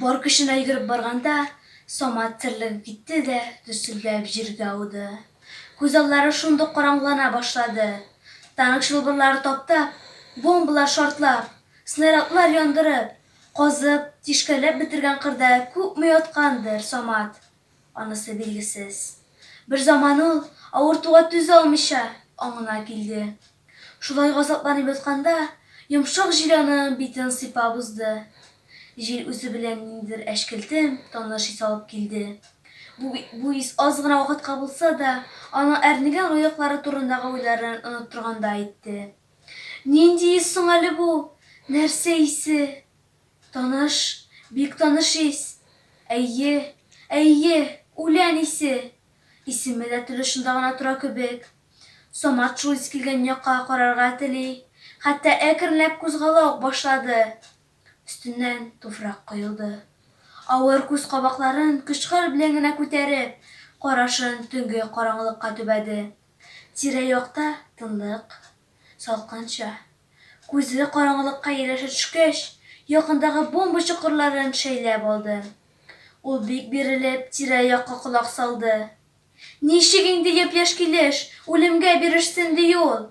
Бар көченә йөгереп барганда, Самат терлегеп китте дә дөсселдәп җиргә ауды. Күзаллары шундук караңгылана башлады. Танк чылбырлары таптап, бомбалар шартлап, снарядлар яндырып, казып, тишкәләп бетергән кырда күпме яткандыр Самат. Анысы билгесез. Берзаман ул, авыртуга түзә алмыйча, аңына килде. Шулай газапланып ятканда, йомшак җил аның битен сыйпап узды. Җил үзе белән ниндидер әчкелтем, таныш ис алып килде. Бу бу ис аз гына вакытка булса да, аның әрнегән аяклары турындагы уйларын оныттыргандай итте. Нинди ис соң әле бу? Нәрсә исе? Таныш, бик таныш ис! Әйе, әйе, үлән исе! Исеме дә теле очында гына тора кебек. Самат шул ис килгән якка карарга тели, хәтта әкренләп кузгала ук башлады. Өстеннән туфрак коелды. Авыр күз кабакларын көч-хәл белән генә күтәреп, карашын төнге караңгылыкка төбәде. Тирә-якта тынлык, салкынча. Күзле караңгылыкка ияләшә төшкәч, якындагы бомба чокырларын шәйләп алды. Ул бик бирелеп, тирә-якка колак салды. Ничек инде япь-яшь килеш үлемгә бирешсен ди ул?